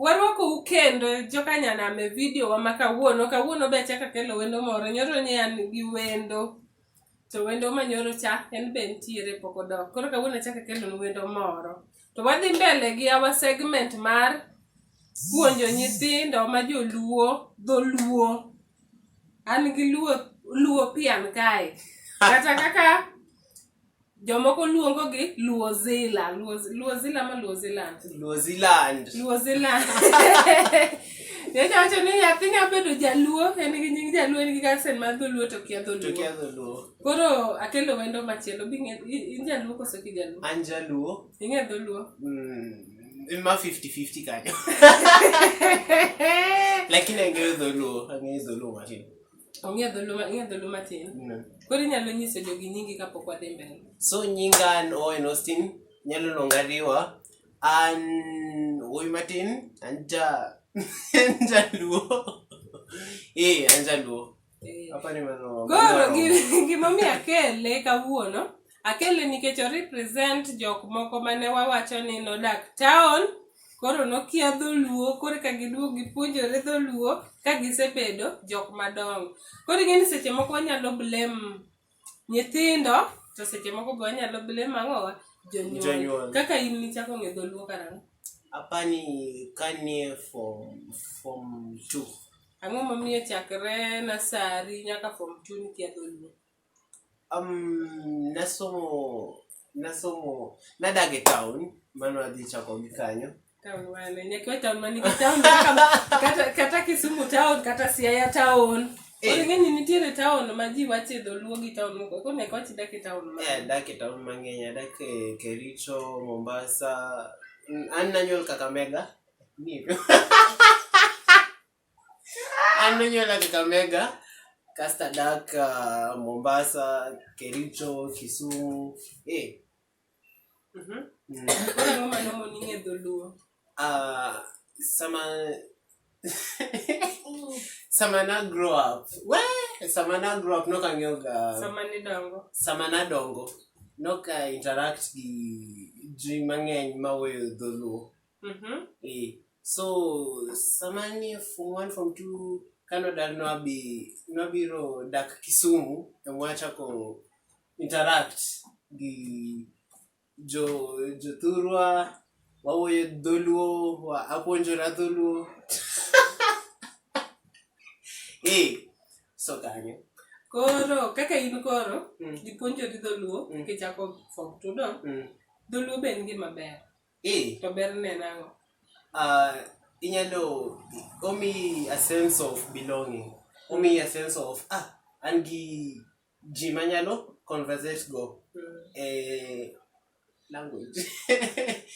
Warwakou kendo jokanyanam e vidio wa ma kawuono. Kawuono be achako akelo wendo moro. Nyoro ne an gi wendo. To wendo ma nyoro cha en be nitiere pok odok. Koro kawuono achako akelo wendo moro. To wadhi mbele gi our segment mar puonjo nyithindo ma joluo dholuo. An gi luo luo pian kae. Kata kaka Jomoko luongo gi Luo Zila. Luo, Luo Zila ma Luo Zealand. Luo Zealand. Luo Zealand. Nyocha wacho ni nyathi nya bedo jaluo, en gi nying jaluo, en gi gasen mar dholuo to kia dholuo. To kia dholuo. Koro akelo wendo machielo, bi ng'e- i- in jaluo koso ki jaluo? An jaluo. Ing'e dholuo? Mm, ma 50-50 kanyo. Lakini ang'eyo dholuo, ang'eyo dholuo matin. Ong'e dhulu ma- ong'e dhulu matin. Koro inyalo nyiso jogi nyingi kapok wadhi mbele. So nyinga an Owen Austin, nyalo luonga Riwa. An wuoyi matin, an ja an jaluo. Eh, an jaluo. Eh. Hapa ni mano. Koro gi- gimomiyo akele kawuono Akele nikech o represent jok moko mane wawacho ni nodak town koro nokia dholuo koro ka giduog gipuonjore dholuo ka gisebedo jok madongo. Koro ing'e ni seche moko wanyalo blame nyithindo to seche moko be wanyalo blame ang'owa jonyuol. Kaka in nichako ng'e dholuo karang'o? Apani kanie form form two. Ang'o momiyo chakre nasari nyaka form two nikia dholuo? Um, nasomo nasomo nadag e town mano adhi chako gi kanyo Town wane. Nyakiwa town man nigi town kama- kata, kata Kisumu town kata Siaya town. Eh. Koro ing'e ni nitiere town ma ji wache dholuo gi town moko. Koro nyaka wachi dak e town ma. Eh, adak e town mang'eny adak e kericho mombasa Mm, an nanyuol kakamega Ni- An nonyuola Kakamega, kasto adak ah, Mombasa, Kericho, Kisumu. Eh, Mhm. mm. Koro ang'o ma nomo ni ng'e dholuo? Ah, sama sama na grow up we sama na grow up nok ang'eyo ga Sama nidongo. sama nadongo nok a interact gi ji mang'eny mawuoyo dholuo Mhm. Eh, so sama nie form one form two kanodar nwabi nwabiro dak kisumu emwachako interact gi jo jothurwa wawuoyo dholuo wa- apuonjora dholuo eh, so kanyo koro kaka in koro Mm. ipuonjori dholuo Mm. kichako form two do mm, dholuo be en gima ber Eh. To ber ne nango. Uh, inyalo omi a sense of belonging. Omi a sense of ah an gi ji manyalo conversate go. Mm. Eh, language.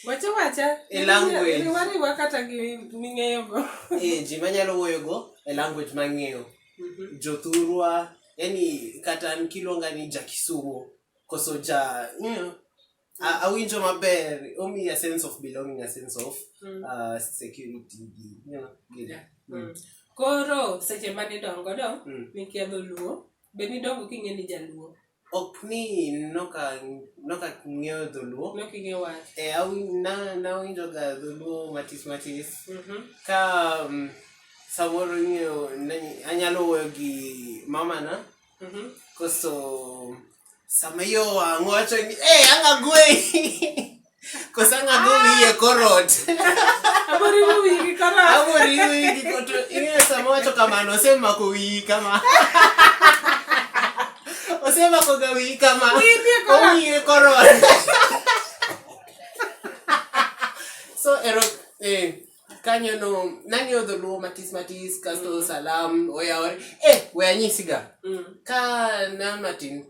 wacha wacha. E language. Ni wari wakata gi ming'eyo go. eh, ji manyalo wuoyo go e language mang'eyo. Mm -hmm. Jothurwa, yani kata nikiluonga ni Jakisumo koso ja, you know, A- awinjo maber omiyi a sense of belonging a sense of Mm. uh, security gi you know, gi- Yeah. Mm. Mm. koro seche ma nidongo do Mm. nikiadho luo be nidongo king'e ni jaluo ok ni noka noka ng'eyo dholuo nok ing'e wach e awi- na- nawinjoga dholuo matis matis Mhm. ka um, samoro ing'eyo nani- anyalo wuoyo gi mamana Mhm. Koso sama yo wang' wacho ni eh anga gwe. Koso anga go wiye korot. Abori mo wigi kara. Abori wigi koto ing'e sama wacho kamano osemako wiyi kama. Osemako ga wiyi kama. Wiye korot. So ero eh kanyo no nang'eyo dholuo matis matis kasto mm. salam oyawore e eh, we anyisiga mm. ka na matin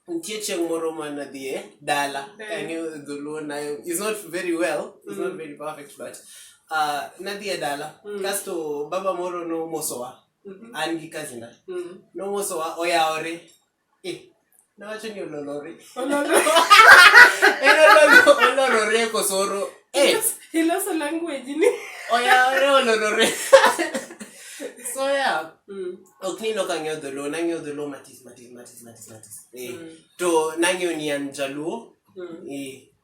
nitie chieng' moro ma nadhie dala ang'eyo dholuo na is not very well is not mm. very perfect but uh, nadhie dala mm. kasto baba moro nomosowa mm-hmm. an gi kazina mm. nomosowa oyawore Nawacho ni ololore. Ololore. En ololo- olorore kosoro. Eh, Iloso language ni. oyawore olorore. So yeah, Mm. ok ni nok ang'eyo dholuo, nang'eyo dholuo matis matis matis matis matis. Eh, Mm. To nang'eyo ni an jaluo. Mm. Eh,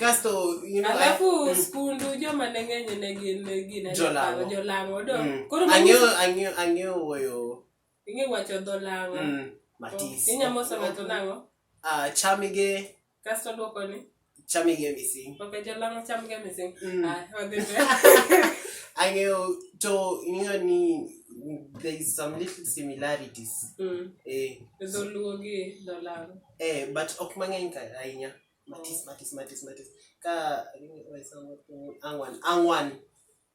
kasto you know, alafu mm. skundu joma ne ng'eny ne gin gine Jolang'o. jolang'o do mm. koro mano- ang'eyo ang'eyo ang'eyo wuoyo ing'e wacho dho lang'o mm, matis inyamo sama to nang'o Ah, chamige kasto dwoko ni chamige mising ok jolang'o chamga mising Mm. Ah, wadhi mbele. ang'eyo to ing'eyo ni there is some little similarities Mm. eh, dholuo gi dholang'o eh, but ok mang'eny ka- ahinya matis matis matis matis ka ang'wan ang'wan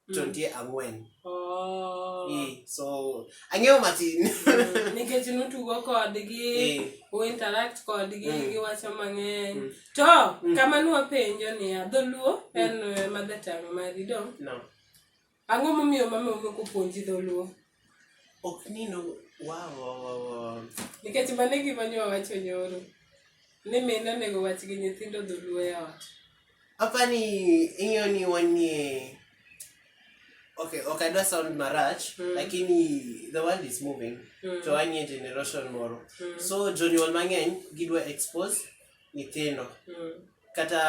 to mm. nitie ang'wen oh. so ang'eyo matin mm. nikech nutugo kodgi uinteract kodgi mm. giwacho mang'eny to kama nwapenjo niya dholuo en eh, mother tongue mari dong Ang'o momiyo mama ok opuonji dholuo? Ok ni no wow, wow, wow, wow. Nikech mano e gima nyo wacho nyoro ni min onego wach gi nyithindo dholuo e ot. Apa ni ing'eyo ni wanie Okay, okay, I don't sound marach, mm. lakini the world is moving mm. to wanie generation moro. Mm. So jonyuol mang'eny gidwa expose nyithindo. Mm. kata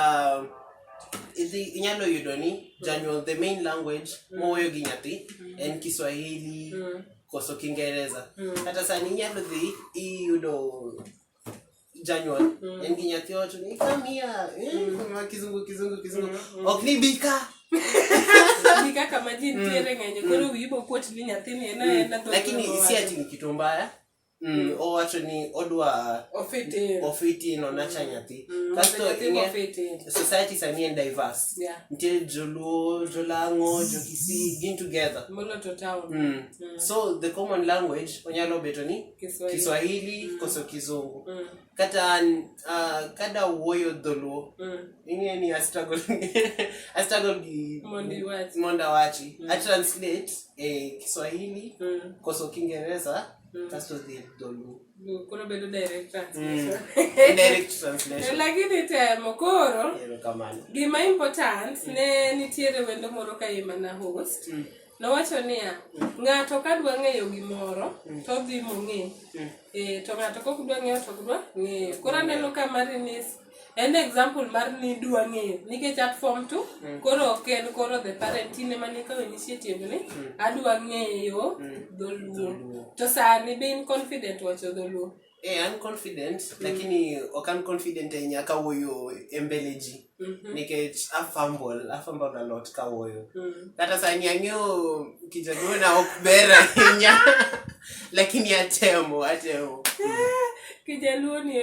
idhi inyalo yudo ni janyuol the main language mm. mowuoyo gi nyathi mm. en kiswahili mm. koso kingereza kata sani inyalo dhi iyudo janyuol en gi nyathi wacho ni kamia eh, ma kizungu kizungu kizungu ok ni bika ni kaka maji nitiere ng'enyo koro wiyi bokuot ni nyathini en aena lakini si ati ni kitu mbaya Mm, owacho ni odwa Ofitin. ofitin onacha nyathi Mm, kasto nyathi ing'e- mofitin. society sani en diverse Yeah. nitie joluo jolang'o jokisii gin together Molo to town. mm. Mm. so the common language onyalo beto ni Kiswahili. kiswahili koso kizungu Mm. kata an, ah, kada wuoyo dholuo Mm. ing'e ni astruggle astruggle gi Mondo iwach. mondo awachi atranslate eh, kiswahili Mm. koso kiingereza Mm. Kasto dhi e dholuo. Mm, koro bedo direct translation. Mm. direct translation. Lakini temo koro. Erokamano. Gima important mm. ne nitiere wendo moro ka yema na host. Mm. Nowacho niya, mm. ng'ato ka dwa ng'eyo gimoro mm. to dhi mong'e. Mm. Eh, to ng'ato kok dwa ng'eyo to dwa ng'eyo. Koro aneno ka Marinis en example mar ni dwa ng'eyo nikech at form two mm. koro ok en koro the parent in ema nikawo initiative ni mm. adwa ng'eyo mm. dholuo to sani be in confident wacho dholuo Eh, I'm confident mm. lakini ok an confident ahinya kawuoyo e mbele ji mm -hmm. nikech afumble afumble a lot kawuoyo mm. kata sani ang'eyo kijaluo na ok ber ahinya lakini atemo atemo mm. kijaluo ni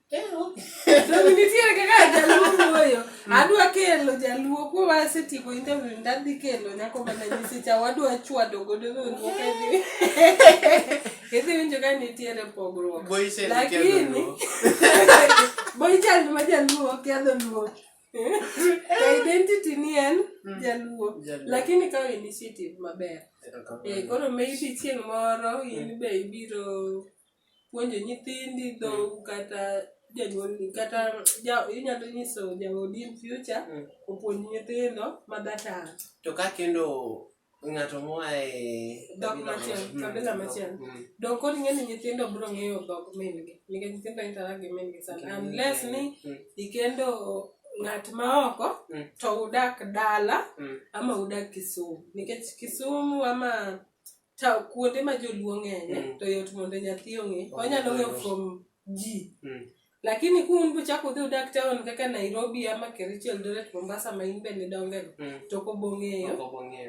nitiere kaka jaluo wuoyo mm. adwa kelo jaluo kuo wasetieko interview ndadhi kelo nyako mana nyisicha wadwa chwado godo nonruok idhi winjo ka nitiere pogruok lakini boichand ma jaluo kiadho luo identity ni en mm. jaluo lakini kawo initiative maber eh, koro maybe chieng' moro in be ibiro puonjo nyithindi dhou kata janyuolni kata ja, inyalo nyiso jaodi in future Mm. opuonj nyithindo ma that are to ka kendo ng'ato moa e Dhok kabila machielo, moro. Mm, kabila dhok, machielo. mm. dong kod ing'e ni nyithindo biro ng'eyo dhog min-gi nikech nyithindo intara gi min-gi sana Mm. unless ni Mm. ikendo ng'at ma oko Mm. to udak dala Mm. ama udak kisumu nikech kisumu ama ta kuonde ma joluo ng'enye mm. to yot mondo nyathi ong'e oh, onyalo ng'eyo from ji mm. lakini ku un buchako udhi udak town kaka nairobi ama kericho eldoret mombasa ma in bende dongego mm. to ok obong'eyo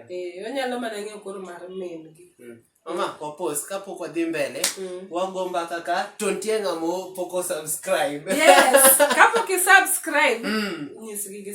eh, onyalo mana ng'eyo koro mar min gi mm. mama wapos kapok wadhi mbele mm. wago mbaka ka to nitie ng'amo pok osubscribe yes kapok isubscribe mm. nyisgi gi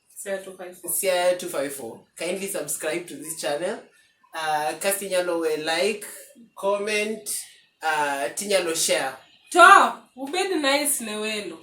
Siaya 254. Siaya 254. Kindly subscribe to this channel. Uh, kasi nyalo we like, comment, uh, tinyalo share. To, ubedi nice ne welo.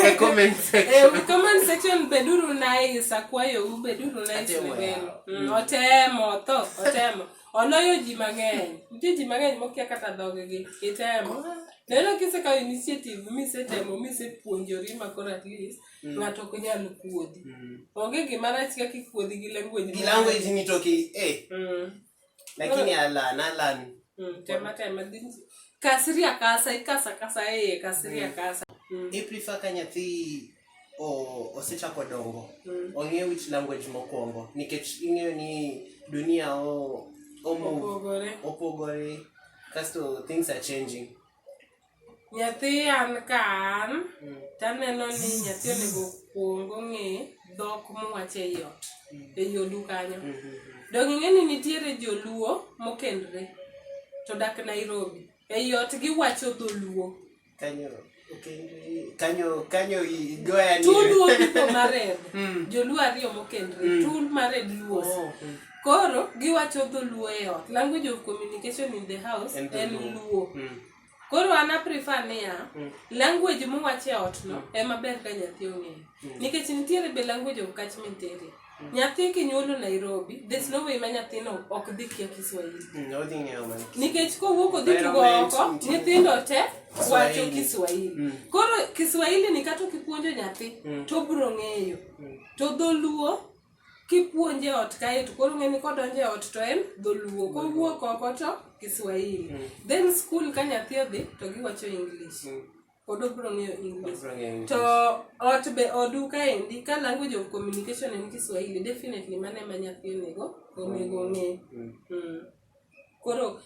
e comment section. E comment section beduru nice akwayo u beduru nice ne welo. Mm. Otemo to, otemo. oloyo ji mang'eny nitie ji mang'eny mokia kata dhoggi itemo neno kisekawo initiative misetemo misepuonjori ma koro at least Mm. ng'ato ok nyal kuodhi Mm. onge gima rach kaka ikuodhi gi language Gi language ni to ki eh Mm, lakini alan alan mm, tema tema dhi- kasri akasa ikasa kasa eye kasri akasa Mm. i prefer ka nyathi osechako dongo mm. ong'eyo which language mokwongo nikech ing'eyo ni dunia omove opogore kasto things are changing nyathi an ka an mm. taneno ni nyathi onego kwong ong'e dhok mowacho e yot mm. e yodu kanyo mm-hmm. dong ing'e ni nitiere joluo mokendre to dak nairobi e yot giwacho dholuo Kanyo kanyo kanyo igoya ni tul wo pipo mared hmm. joluo ariyo mokendre hmm. tul mared luos oh, hmm. koro giwacho dholuo e ot language of communication in the house en luo koro an aprefer niya language muwacho e otno ema ber ka nyathi ong'eyo nikech nitiere be language of catchment area nyathi kinyuolo Nairobi there's no way ma nyathino ok dhi kia Kiswahili nikech kowuok odhi tugo oko nyithindo te wacho Kiswahili mm. koro Kiswahili ni kata kipuonjo nyathi mm. to bro ng'eyo mm. to dholuo kipuonje ot kae to koro ng'eni kodonje ot to en dholuo kowuok oko to Kiswahili then school ka nyathi odhi to giwacho English pod obro ng'eyo English. Obro ng'eyo English. To ot be odu kaendi ka language of communication en Kiswahili definitely mano ema nyathi onego onego ong'e. Mm. Mm. Koro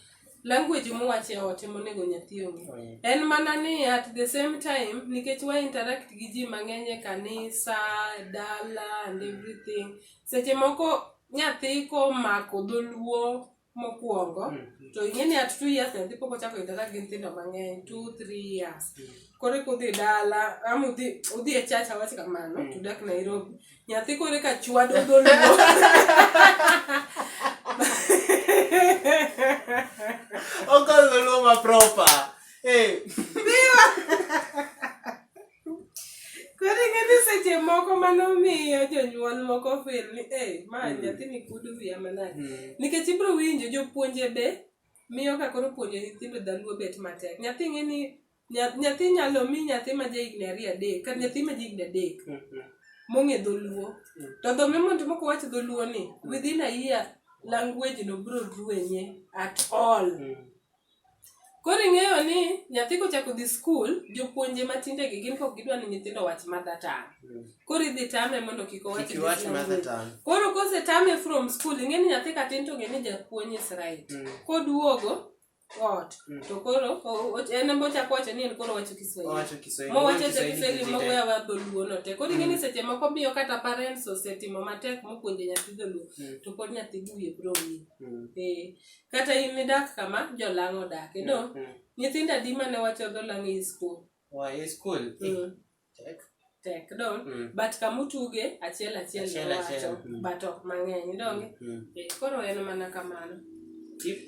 language muwach e ot ema onego nyathi ong'e. Mm. En mana ni at the same time nikech wa interact gi ji mang'eny e kanisa, e dala and everything. Seche moko nyathi komako dholuo mokwongo mm. to ing'e ni at two years nyathi pok ochako yudore gi nyithindo mang'eny two three years mm. koro eka udhi dala ama udhi udhi e church awach kamano mm. tudak nairobi nyathi koro eka chwado dholuo okol dholuo ma proper hey. Koro ing'eni seche moko mano miyo jonyuol moko fil ni e ma hmm. nyathini kudu wiya manade hmm. nikech ibiro winjo jopuonje be miyo ka koro puonjo nyithindo dhaluo bet matek nyathi ng'eni nyathi nyalo mi nyathi ma ja higni ariyo adek kata nyathi ma ja higni adek hmm, mong'e dholuo to dho memond moko wach dholuo ni within a year language no biro ruenye at all Koro ing'eyo ni nyathi kochako dhi skul, jopuonje matinde gi gin kok gidwa ni nyithindo owach mother tongue. Koro idhi tame mondo kik owach Kik iwach this mother language. tongue. Koro kose tame from school, ing'e ni nyathi katin to ng'e ni japuonj is right. Mm. Koduogo ot, Mm. to koro o- o- en embo chako wacho ni en koro wacho Kiswahili. Owacho Kiswahili. mowacho cha Kiswahili kiswahili kiti moweyo te. aweya dholuo no te koro ing'e ni seche moko miyo kata parents osetimo matek mopuonjo nyathi dholuo Mm. to pod nyathi wiye biro wil Mm. Eh, Kata in midak kama jolang' odake, no? Mm. Nyithindo adi mane wacho dholang' e skul? Wa e skul? Mm. Tek. Tek, no? Mm. But kamutuge, achiel achiel Achiel ne achiel, wacho, mm. but ok mang'eny, donge? Mm. Eh, Koro en mana kamano. Tip.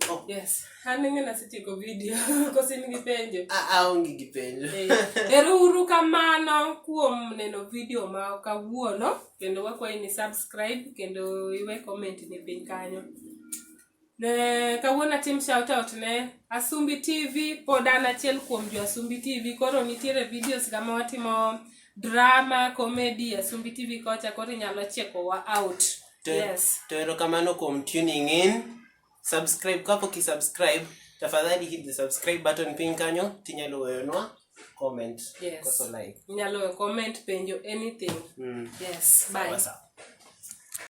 Oh. Yes, an ng'e nasetieko video, kosi in gi penjo. A- aonge gi penjo Eh, Ero uru kamano kuom neno video ma kawuono. kendo wakwayi ni subscribe kendo iwe comment ni piny kanyo ne kawuono atim shout out ne Asumbi TV pod an achiel kuom jo Asumbi TV koro nitiere videos ga ma watimo drama comedy Asumbi TV kocha koro inyalo checkowa out Te- yes to erokamano kuom tuning in Subscribe kapo ki subscribe tafadhali hit the subscribe button piny kanyo tinyalo weyonwa comment yes. koso like. Inyalo weyo comment penjo anything. Mm. Yes, bye. What's up?